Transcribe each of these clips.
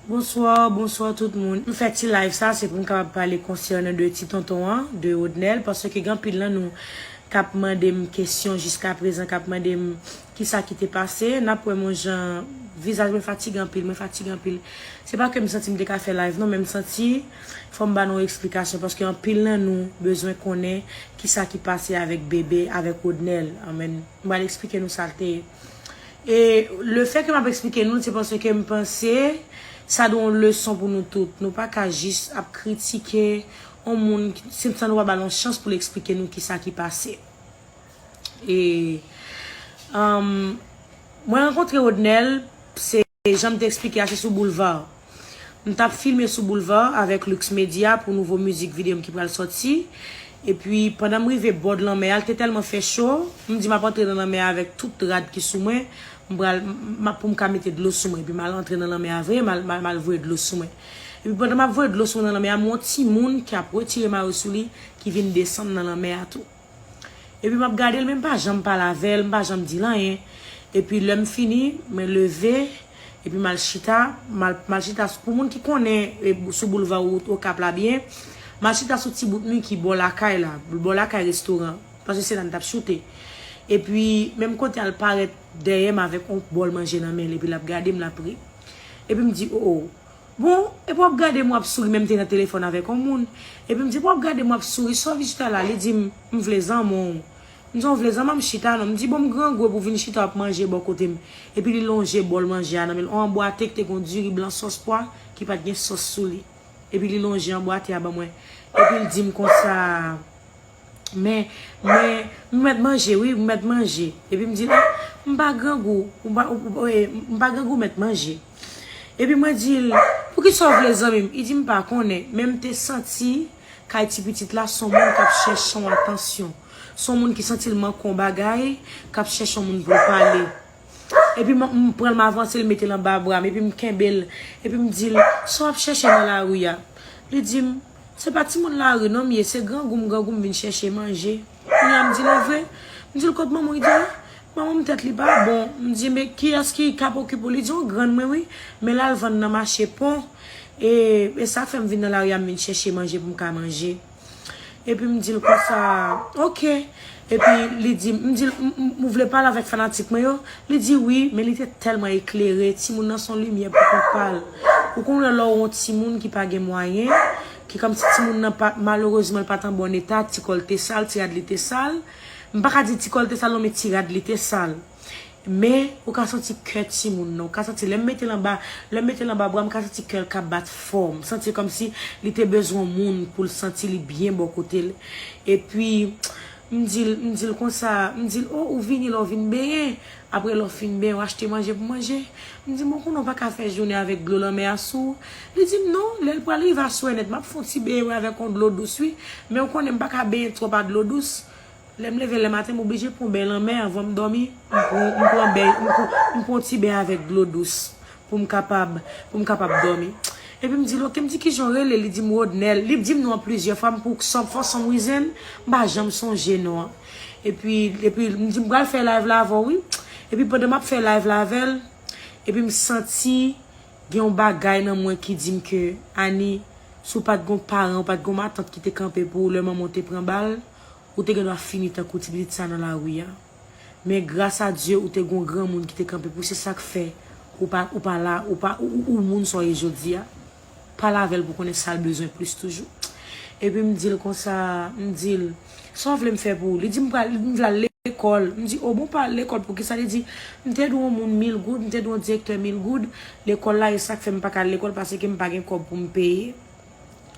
Bonsoir bonsoir tout moun m fè ti live sa se pou m kapab pale concernant de ti tonton an de Rodnel parce que gen anpil nan nou kap mande m kesyon jiska prezan kap mande m kisa ki te pase nap wè m on jan vizaj mwen fatige anpil mwen fatige anpil se pa ke m santi m te ka fè live non men m santi fò m ba nou esplikasyon parce que anpil nan nou bezwen konnen kisa ki pase avèk bébé avèk Rodnel m pral esplike nou sa l te E le fè ke m ap eksplike nou l se paske m panse sa dwe yon leson pou nou tout. Nou pa ka jis ap kritike yon moun san nou pa ba l yon chans pou l eksplike nou kisa ki pase. E Mwen rankontre Rodnel se. E janm te esplike a se sou boulevard. M tap filme sou boulevard avèk Lux Media pou nouvo mizik video m ki pral sòti. Epi pandan m rive bord lanmè a l te tèlman fè cho, m di map antre nan lanmè a avèk tout rad ki sou mwen, m pral map pou m ka mete dlo sou mwen. Epi mal antre nan lanmè a vre, mal mal voye dlo sou mwen. Epi pandan map voye dlo sou mwen nan lanmè a m wè yon timoun ki ap retire mayo sou li ki vin desann nan lanmè a tou. Epi map gadel men mpa janm pale avèl, mpa janm dil anyen. Epi lèm fini, mwen leve, epi mal chita, mal chita pou moun ki konnen sou boulva wout okap la byen, mal chita sou ti bout mi ki bò lakay la, bò lakay restoran, paske se la mtap choute. Epi menm kote al parèt dèyèm avèk yon bòl manje nan menl epi lap gadem lap ri. Epi mdi o o. Bon, epi w ap gade m w ap souri men m te nan telefòn avèk yon moun. Epi m di, epi w ap gade m w ap souri sa w vin chita la? Li di m, m vle zanman w. M di, w vle zanman m chita non. M di, bon m grangou epi w vin chita w ap manje bò kote m. Epi li lonje bòl manje a nan men l, yon anbwate ki te gen yon diri blan sòs pwa ki pa t gen sòs sou li. Epi li lonje anbwate a ban mwen. Epi l di m konsa. Men, mwen, m mèt manje wi, m mèt manje. Epi m di l, m pa grangou, m pa, m pa grangou, m mèt manje. Epi mwen di l, poukisa w vle zanmi m? Li di m pa konnen, men m te santi kay ti pitit la son moun k ap chèche yon atansyon. Son moun ki santi l manke yon bagay, k ap chèche yon moun pou l pale. Epi m pran l, m avanse l, m mete l anba bra m, epi m kenbe l, epi m di l, sa w ap chèche nan lari a? Li di m. Se pa timoun lari non m ye, se grangou m grangou m vin chèche manje. Kounye a m di li vre. M di l kot manman w? Li di m, manman m tèt li pa bon. M di men kiyès ki kap okipe w? Li di yon grann mwen wi, men l al vann nan mache pon. E e sa k fè m vin nan lari a m vin chèche manje pou m ka manje. Epi m di l konsa, ok. Epi li di m, m di l, m, ou vle pale avèk fanatik mwen yo? Li di wi, men li te tèlman eklere, timoun nan son limyè pou kont pa l. Ou konn wè lè w on timoun ki pa gen mwayen, ki kòmsi timoun nan pa, malerezman l pa t an bòn eta, ti kò l te sal, ti rad li te sal. M pa ka di ti kò l te sal non men ti rad li te sal. Men, ou ka santi kè timoun nan. Ou ka santi lè m mete l anba, lè m mete l anba bra, m ka santi kè l ka bat fò. M santi kòmsi li te bezwen moun pou l santi li byen bò kote l. Epi, m di l, m di l konsa, m di l, o, ou vini lè w vin benyen. Apre lè w fin benyen, w achte manje pou manje. M di l, bon, konnen w pa ka fè jounen avèk dlo lanmè a sou ou. Li di m, non, lè l pral rive aswè nèt, m ap fè yon ti benyen wi avèk yon dlo dous wi. Men ou konnen m pa ka benyen twòp a dlo dous. Lè m leve le maten, m oblije pran ben lanmè anvan m dòmi. M pran m pran beny m pran m pran yon ti ben avèk dlo dous pou m kapab pou m kapab dòmi. Epi m di l, ok, m di ki jan w rele? Li di m Rodnel. Li di m non an plizyè fwa, m pou san fò san m rizen, m pa janm sonje non an. Epi epi m di m pral fè live la avè w wi. Epi pandan m ap fè live la avè l, epi m santi gen yon bagay nan mwen ki di m ke Annie, si w pa t gen yon paran, ou pa t gen yon matant ki te kanpe pou ou lè manman w te pran bal, Ou te gendwa fini tankou ti pitit sa nan lari a. Men gras a Dye ou te gon granmoun ki te kanpe pou se sak fè ou pa ou pa la ou pa ou ou moun sa w ye jodi a. Pale avè l pou konnen sa l bezwen plis toujou. Epi m di l konsa, m di l, sa w vle m fè pou ou? Li di m pral m vle al lekòl. M di, o bon pa al lekòl poukisa? Li di, m te dwe on moun mil goud, m te dwe on direktè mil goud, lekòl la e sak fè m pa ka al lekòl pase ke m pa gen kòb pou m peye.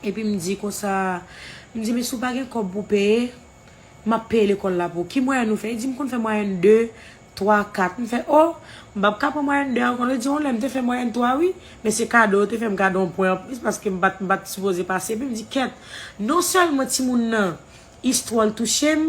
Epi m di konsa, m di men si w pa gen kòb pou w peye, m ap peye lekòl la pou w. Ki mwayèn ou fè? Li di m konn fè mwayèn 2, 3, 4. M fè o! M pap ka pran mwayèn 2 a ankò. Li di yon lè m te fè mwayèn 3 wi, men se kado, yo te fè m kado yon pwen anplis paske m pa t sipoze pase. Epi m di kèt, non sèlman timoun nan Istwa l touche m,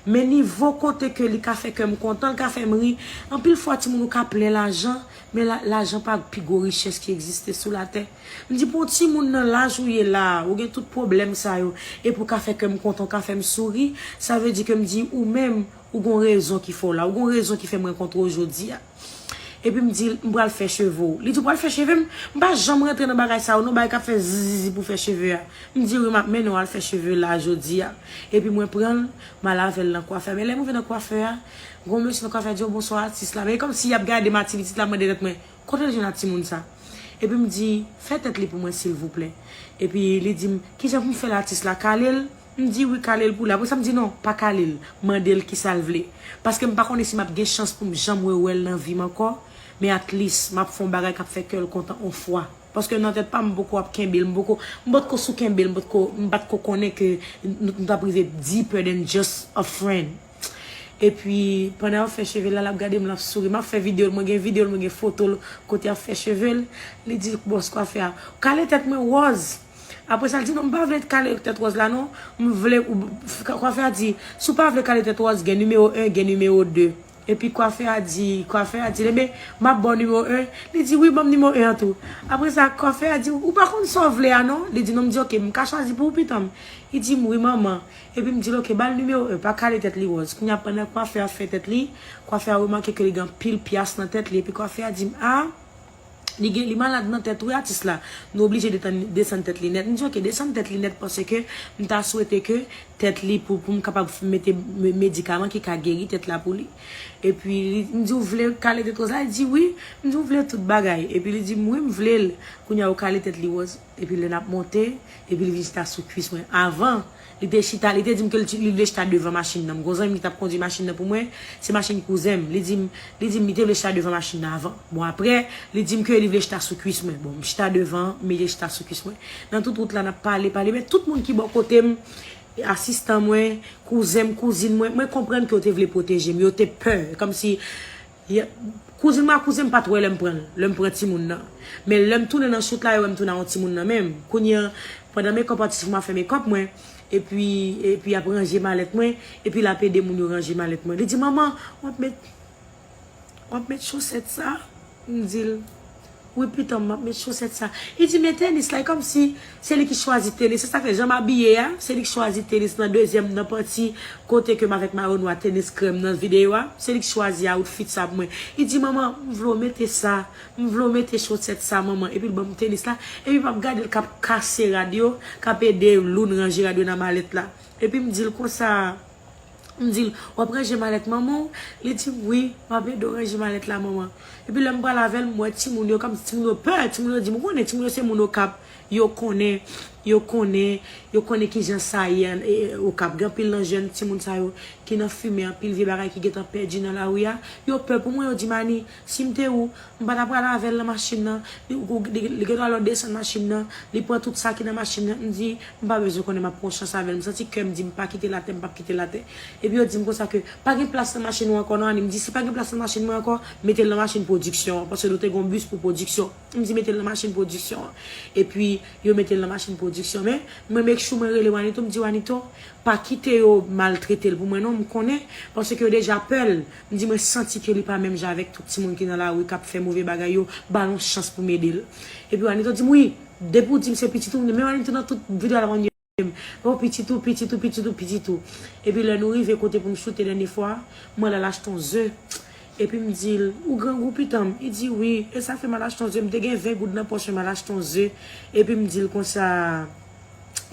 men nivo kote ke li ka fè kè m kontan, l ka fè m ri. Anpil fwa timoun ou ka plen lajan, men lajan pa pi gwo richès ki egziste sou latè. M di pou yon timoun nan laj ou ye la a, ou gen tout pwoblèm sa yo, epi w ka fè kè m kontan, w ka fè m souri, sa vle di ke m di ou menm, ou gen yon rezon ki fè w la, ou gen yon rezon ki fè m rankontre w jodi a. Epi m dil, m pral fè cheve w. Li di w pral fè cheve m? M pa janm rantre nan bagay sa yo non, bagay kap fè zizizi pou fè cheve a. M di wi, map mennen w al fè cheve la jodi a. Epi mwen pran l, m al avè l nan kwafè. Men lè m rive nan kwafè a, gon mesye nan kwafè a di yo bonswa atis la. Men e kòmsi yap gade m a ti pitit la, ap mande tèt mwen, kote l jwenn a timoun sa? Epi m di, fè tèt li pou mwen silvouplè. Epi li di m, kijan pou m fè l atis la? Kale l? M di wi kale l pou li. Apre sa m di non, pa kale l. Mande l kisa l vle. Paske m pa konnen si m ap gen chans pou m janm rewè l nan vi m ankò, men atlis m ap fè yon bagay k ap fè kè l kontan on fwa. Paske nan tèt pa m, m poko ap kenbe l, m poko, m potko sou kenbe l, m potko, m pa t ko konnen ke nou t ap rive deeper than just a friend. Epi, pandan y ap fè cheve l la, l ap gade m, l ap souri. M ap fè videyo l, mwen gen videyo l, mwen gen foto l kote y ap fè cheve l. Li di bòs kwafè a, Ou kale tèt mwen wòz! Apre sa l di, Non, m pa vle kale tèt wòz la non. M vle ou. Kwafè a di, Si w pa vle kale tèt wòz, gen nimewo 1, gen nimewo 2. Epi kwafè a di, kwafè a di, Lenbe, m ap ba w nimewo 1. Li di, Wi, ban m nimewo 1 an tou. Apre sa, kwafè a di, Ou pa konn sa w vle a non. Li di, Non, m di, Oke, m ka chwazi pou ou pitan m. Li di m, Wi, manman. Epi m di l, Oke, ba l nimewo 1, pa kale tèt li wòz. Kounye a, pandan kwafè a fè tèt li, kwafè a remake ke li gen anpil pyas nan tèt li. Epi kwafè a di m, A! Li gen li malad nan tèt wi atis la nou oblije detann desann tèt li nèt m di ok desann tèt li nèt paske m ta swete ke tèt li pou pou m kapab mete medikaman ki ka geri tèt la pou li epi li m di ou vle kale tèt wòz la li di wi m di ou vle tout bagay epi li di m wi m vle l kounya ou kale tèt li wòz. Epi lè nap monte, epi li vin chita sou kwis mwen. Avan, li te chita, li te di m ke li vle chita devan machin nan. M gen yon zanmi m ki tap kondwi machin nan pou mwen, se machin kouzen m. Li di m, li di m li te vle chita devan machin nan avan. Bon aprè, li di m ke li vle chita sou kwis mwen. Bon, m chita devan, m mete chita sou kwis mwen. Nan tout wout la nap pale, pale, men tout moun ki bò kote m, asistan mwen, kouzen m, kouzin mwen, mwen konprann ke yo te vle pwoteje m, yo te pè, kòmsi. Yep. Kouzin mwen ak kouzen m pat wè lèm pranl, lèm pran timoun nan. Men lèm tounen nan shoot la yo wèm tounen ak yon timoun nan menm. Kounye an, pandan makeup atis mwen ap fè makeup mwen, epi epi yap ranje malèt mwen, epi lap ede moun yo ranje malèt mwen. Li di manman, wap met wap met chosèt sa? M dil. Wi pitanm map met chosèt sa. Li di men tenis la e kòmsi se li ki chwazi tenis se sa fè jan m abiye a se li ki chwazi tenis nan dezyèm nan panti kote ke m avèk mayo nwa tenis krèm nan videyo a se li ki chwazi outfit sa pou mwen li di manman m vle w mete sa m vle w mete chosèt sa manman epi l banm tenis la epi map gade l kap kase rad yo kap ede Loune ranje rad yo nan malèt la epi m di l konsa. M di l, W ap ranje malèt manman w? Li di m, Wi, m ap ede w ranje malèt la, manman. Epi lè m pral avè l, m wè timoun yo kòmsi timoun yo pè. Timoun yo di m, Ou konnen, timoun yo se moun Okap. Yo konnen, yo konnen, yo konnen ki jan sa ye ann Okap. Gen anpil nan jèn timoun sa yo ki nan fimen, anpil vye bagay ki gen tan pèdi nan lari a. Yo pè pou mwen, yo di m, Ani, Si m te ou, m pa ta pral avè l nan machin nan, li gen dwa lè w desann machin nan, li pran tout sa ki nan machin nan, m di, m pa bezwen konnen m ap pran chans avè l, m santi kè m di m pa kite l atè, m p ap kite l atè. Epi yo di m konsa ke, pa gen plas nan machin ou ankò non Annie, m di si pa gen plas nan machin mwen ankò, mete l nan machin pwodiksyon an, paske nou te gen yon bis pou pwodiksyon, m di mete l nan machin pwodiksyon an, epi yo mete l nan machin pwodiksyon, men, mwen make sure mwen rele Wanito, m di Wanito, pa kite yo maltrete l pou mwen non, m konnen, paske yo deja pè l. Li di mwen santi ke li pa menm jan avèk tout timoun ki nan lari kap fè move bagay yo, bal yon chans pou m ede l. Epi Wanito di m wi, depi w di m se pitit ou, men Wanito nan tout video a lap mande m, oh pitit ou, pitit ou, pitit ou, pitit ou. Epi lè nou rive kote pou m choute dènye fwa, mwen lal achte yon ze, epi m di l, ou grangou pitan m, li di wi, e sa fè m al achte yon ze, m te gen 20 goud nan pòch mwen, m al achte yon ze, epi m di l konsa.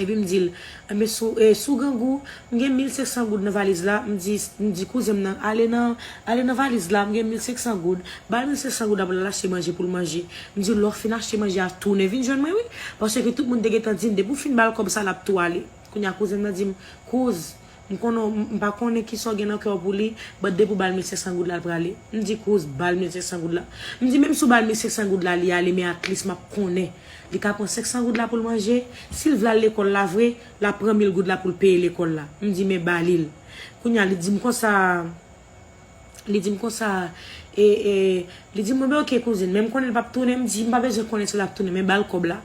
Epi m di l, Enben, si w si w grangou, m gen mil senksan goud nan valiz la, m di m di kouzen m nan, Ale nan ale nan valiz la, m gen mil senksan goud. Ba l mil senksan goud la pou l al achte manje pou l manje. M di l, Lè w fin achte manje a, tounen vin jwenn mwen wi. Paske tout moun te gentan di m depi w fin ba l kòb sa l ap tou ale. Kounye a kouzen m nan di m, Kouz, M konnen w m pa konnen kisa w gen nan kè w pou li but depi w ba l 1500 goud la l prale m di kouz ba l 1500 goud la m di menm si w ba l 1500 goud la li ale men atlis m ap konnen li ka pran 500 goud la pou l manje si l vle al lekòl la vre l ap pran 1000 goud la pou l peye lekòl la m di men ba li l kounya li di m konsa. Li di m konsa, e, e, li di m, mwen bay ok kouzin, men m konnen li p ap tounen, m di m pa bezwen konnen si l ap tounen men ba l kòb la.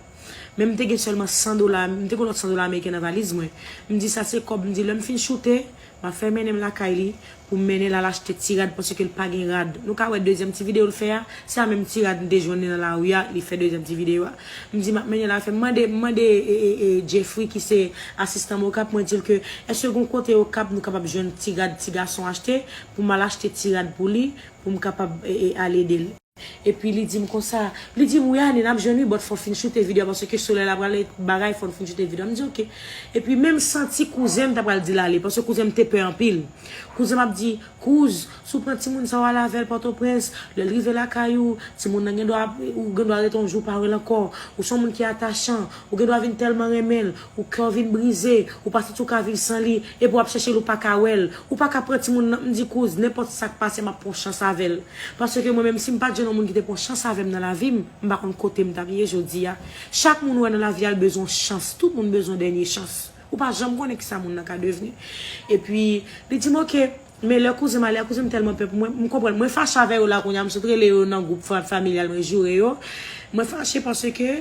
Men m te gen sèlman 100 dola, m te gen yon lòt 100 dola ameriken nan valiz mwen. M di sa se kòb, m di lè m fin choute, m ap fè mennen m lakay li pou m mennen l al achte ti rad paske l pa gen rad. Nou ka wè dezyèm ti videyo l fè a, se a menm ti rad m te jwenn li nan lari a, li fè dezyèm ti videyo a. M di m ap mennen l avè m. M mande m mande Jeffry ki se asistan m Okap, mwen di l ke èske gon kote Okap nou kapab jwenn ti rad ti gason achte pou m al achte ti rad pou li pou m kapab al ede l. Epi li di m konsa, li di m wi Anie n ap jwenn wi but fò w fin choute video a paske solèy la pral bagay fò nou fin choute video a. M di ok. Epi menm santi kouzen m ta pral di l ale paske kouzen m te pè anpil. Kouzen m ap di. Kouz, Si w pran timoun sa w al avè l Pòtoprens, lè l rive lakay ou, timoun nan gendwa ap, ou gendwa rete yon jou pa wè l ankò. Ou se yon moun ki atachan, ou gendwa vin tèlman renmen l, ou kè w vin brize, ou pa santi w ka viv san li, epi w ap chèche l ou pa ka wè l. Ou pa ka pran timoun nan, m di kouz, nenpòt sa k pase m ap pran yon chans avè l. Paske mwen menm si m pa t jwenn yon moun ki te pran yon chans avè m nan lavi m, m pa konn kote m t ap ye jodi a. Chak moun ou wè nan lavi a l bezwen yon chans, tout moun bezwen yon dènye chans. Ou pa janm konnen kisa moun nan ka devni. Epi, li di m ok, men lè kouzen m ale a, kouzen m tèlman pè pou mwen, m konprann. Mwen fache avè yo la kounye a, m sot rele yo nan gwoup Frap Familyal mwen joure yo. Mwen fache paske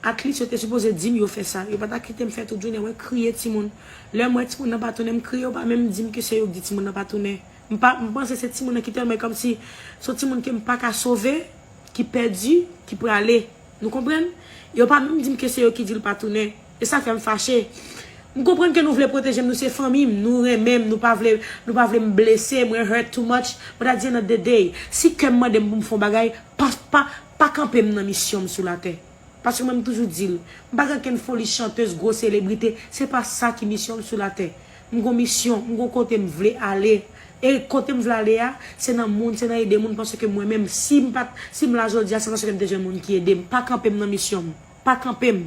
Atlit yo te sipoze di m yo fè sa. Yo pa ta kite m fè tout jounen. Mwen kriye timoun. Lè m wè timoun nan pa tounen, m kriye. Yo pa menm di m ke se yo ki di timoun nan pa tounen. M pa, m panse se timoun nan ki tèlman, e kòmsi se yon timoun ke m pa ka sove, ki pèdi, ki prale. Nou konprann? Yo pa menm di m ke se yo ki di l pa tounen. E sa fèm fache. M konprann ke nou vle pwotejem nou se fanmim nou renmenm nou pa vle nou pa vlem blese mwen hurt too much but at the end of the day si kèm mandem poum fon bagay pa pa pa kanpem nan misyonm sou latè paske mwen m toujou dil m pa gen kenn foli chanteuse gwo selebrite se pa sa ki misyonm sou latè m gon misyon m gon kotem vle ale e kotem vle ale a se nan moun se nan ede moun paske mwen menm sim pat sim la jodia se paske m te jwenn moun ki edem pa kanpem nan misyonm. pa kanpe m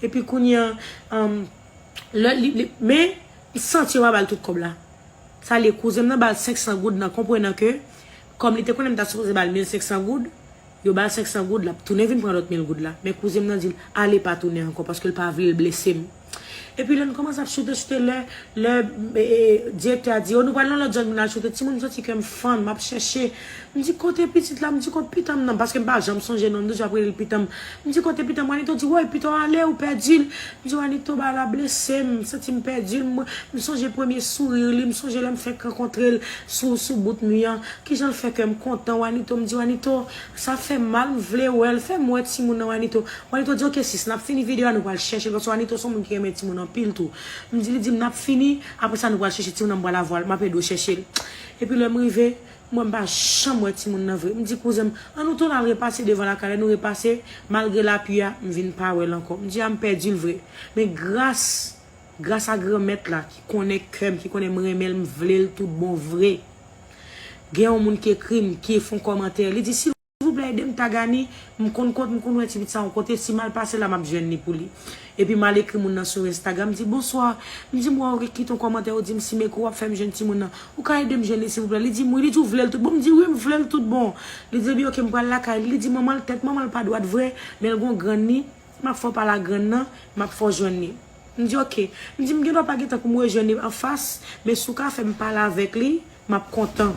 epi kounye an an lè li li men m santi yo pa bal tout kòb la sa li ye kouzen m nan bal 500 goud nan konprenan ke kòm li te konnen m ta sipoze bal 1500 goud yo bal 500 goud lap tounen vin pran lòt 1000 goud la men kouzen m nan di l ale pa tounen ankò paske l pa vle l blese m. Epi lè nou kòmanse ap choute choute lè lè direktè a di o nou pral nan lòt zòn pou nal choute timoun m santi kèm fann map chèche m di kote pitit la m di kot pitanm nan paske m pa janm sonje non m toujou ap rele l pitanm m di kote pitanm wanito di woy piton ale ou pèdi l m di wanito bagay la blese m m santi m pèdi l m sonje premye sourir li m sonje lèm fèk rankontre l sou sou bout mi an kijan l fè kèm kontan wanito m di wanito Sa fèm mal m vle wèl. Fèm wè timoun nan Wanito. Wanito di ok sis nap fini video a nou pral chèchel paske Wanito son moun ki renmen timoun anpil tou. M di li dim nap fini aprè sa nou pral chèche timoun nan m pral avwal map ede w chèchel. Epi lèm rive m wè m pa janm wè timoun nan vre. M di kouzen m an nou tounen al repase devan lakay lè nou repase malgre lapui a m vin pa wèl ankò. M di a m pèdil vre men gras. Gras a Granmèt la ki konnen kè m, ki konnen m renmen l, m vle l tout bon vre. Gen yon moun ki ekri m, ki fon kòmantè, li di, silvouplè ede m Tagani, m konn kot, m konn wè ti pit sa yon kote, si m al pase la m ap jwenn li pou li. Epi m al ekri moun nan sou Instagram, m di, bonswa, m di m wè ou gen kite yon kòmantè ou di m si m ekri w ap fè m jwenn timoun nan, ou ka ede m jwenn li silvouplè? Li di m wi, li di ou vle l tout bon? M di wi m vle l tout bon. Li di epi ok m pral lakay li, li di manman l, tèt manman l pa dwat vre, men l gen yon grann li, m ap fè w pale ak grann nan, m ap fè w jwenn li. M di ok. M di m gen dwa pa gen tan pou m rejwenn li anfas, men si w ka fè m pale avèk li, m ap kontan.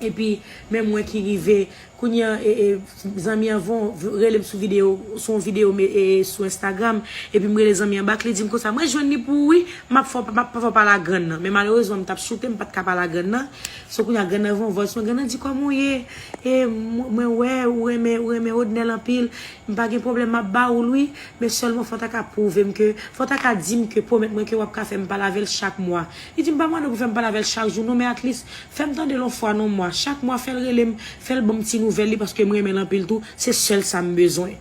Epi, men mwen ki rive, kounye an e, e, zanmi an von, rele m sou videyo, sou yon videyo m e, e, sou Instagram, epi m rele zanmi an bak, li di m konsa, mwen jwenn li pou ou wi, m ap fè w, m ap fè w pale ak grann nan. Men malerezman m t ap choute, m pa t ka pale ak grann nan. So kounye a grann nan von vòs mwen, grann nan di kòman w ye? E, mwen wè ou renmen, ou renmen Odnel anpil. M pa gen pwoblèm map ba oul wi men sèlman fò ta ka pwouvem ke fò ta ka dim ke pwomèt mwen ke wap ka fèm pale avèl chak mwa li dim pa mande pou fèm pale avèl chak jou non men atlis fèm tandel on fwa non mwa chak mwa fèl relem fèl banm ti nouvèl li paske m renmenl anpil tou se sèl sam bezwen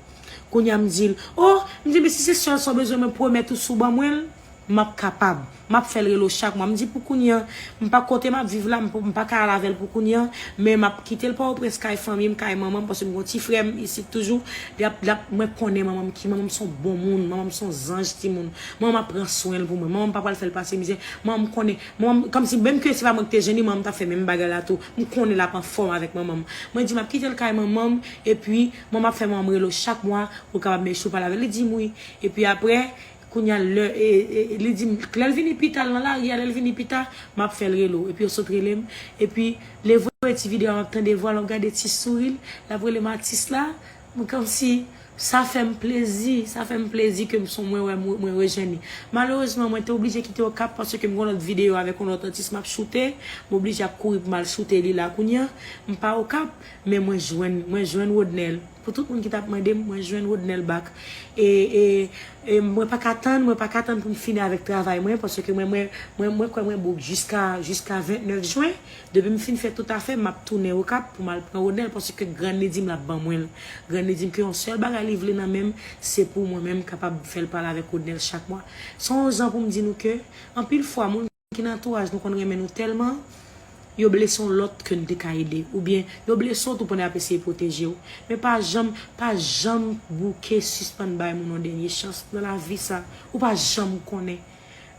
kounya m dil oh m di men si se sèl sa w bezwen mwen pwomèt ou si w ban mwenl. M ap kapab. M ap fè l rele w chak mwa. M di pou kounye an, m pa kote m ap viv la, m pa ka al avè l pou kounye an, men m ap kite l Pòtoprens kay fanmi m, kay manman m, paske m gen yon ti frè m isit toujou. Li ap, li ap, mwen konnen manman m ki, manman m se yon bon moun, manman m se yon zanj timoun. Manman m ap pran swen l pou mwen. Manman m pa pral fè l pase mizè. Manman m konnen, manman m, kòmsi menm ke se pa mwen ki te jwenn li, manman m t ap fè menm bagay la tou. M konnen l ap anfòm avèk manman m. Mwen di m ap kite l kay manman m, epi manman m ap fè manman m rele w chak mwa pou l kapab mèche w pale avè l. Li di m wi. Epi aprè. Kounya lè li dim lè l vini pita l nan lari a lè l vini pita map fè l rele w epi yo sot rele m epi le voye ti video a map tande vwa l map gade ti souri l lap rele m atis la m kòmsi sa fè m plezi sa fè m plezi ke m son mwen wè mwen rejwenn li malerezman mwen te oblije kite okap paske m gon lòt video avèk yon lòt atis map choute m oblije ap kouri pou m al choute li la kounya m pa okap men mwen jwenn mwen jwenn Rodnel. Pou tout moun ki tap mandem mwen jwenn Rodnel back e e e mwen paka tann mwen paka tann poum fini avèk travay mwen paske mwen mwen mwen mwen kwè mwen bouk jiska jiska 29 jwen depim fin fè tout afèm map tounen okap poum al pran Rodnel paske grann li dim lap ban mwenl grann li dim ke yon sèl bagay li vle nan menm se pou mwen menm kapab fèl pale avèk Rodnel chak mwa son zan poum di nou ke anpil fwa moun Ki nan antouraj nou konn renmen nou tèlman yo blese yon lòt ke n te ka ede oubyen yo blese w tou pandan y ap eseye pwoteje w. Men pa janm, pa janm bouke sispann bay moun yon dènye chans nan lavi sa ou pa janm konnen.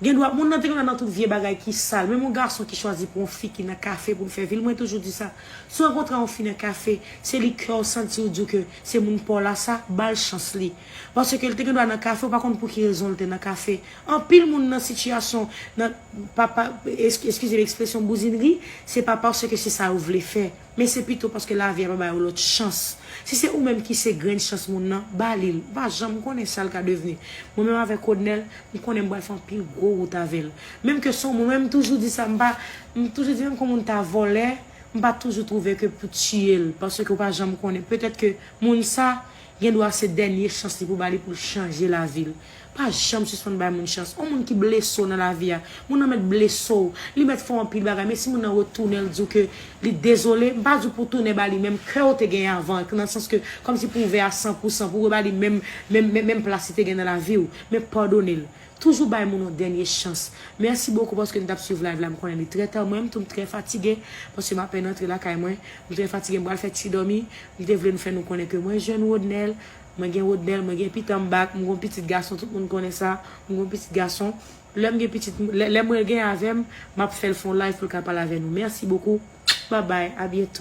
Gendwa moun nan te konn al nan tout vye bagay ki sal menm yon gason ki chwazi pran yon fi ki nan kafe pou l fè vi l mwen toujou di sa si w rankontre yon fi nan kafe se li kè w santi w di w ke se moun pa w la sa ba l chans li Paske l te gen dwa nan kafe, ou pa konn pou ki rezon l te nan kafe. Anpil moun nan sitiyasyon, nan, pa, pa, eskize m ekspresyon bouzinri, se pa paske se sa yo vle fè, men se pito paske lavi a pa ba yo lòt chans. Si se ou menm ki se grenn chans moun nan, ba li l. Ou pa janm konnen sa l ka devni. Mwen menm avèk Rodnel, m konnen m pral fè anpil gwo wout avè l. Menm ke son mwen menm toujou di sa, m pa, m toujou di menm ke moun ta vòlè, m pa toujou twouve ke pou tiye l, paske ou pa janm konnen, petèt ke moun sa, Gen dwa se dènye chans li pou ba li pou l chanje lavi l. Pa janm sispann bay moun chans. On moun ki blese w nan lavi a, moun nan mèt blese w, li mèt fè w anpil bagay, men si moun nan retounen l di w ke li dezole, m pa di w pou w tounen ba li menm kè w te genyen avan an, nan sans ke kòmsi pou w ouvè a san pou san, pou w reba li menm menm menm plas li te gen nan lavi w, men padone l. Toujou bay moun yon dènye chans. Merci beaucoup paske nou tap swiv live la m konnen li trè ta mwen m tou m trè fatigue paske m apèn antre lakay mwen m trè fatigue m pral fè ti dòmi m te vle nou fè nou konnen ke mwen jwenn Rodnel mwen gen Rodnel mwen gen pitanm back m gon pitit gason tout moun konnen sa m gon pitit gason lèm gen pitit lè mwen gen avèm map fèl fon live poul ka pale avè nou merci beaucoup bye bye a bientôt.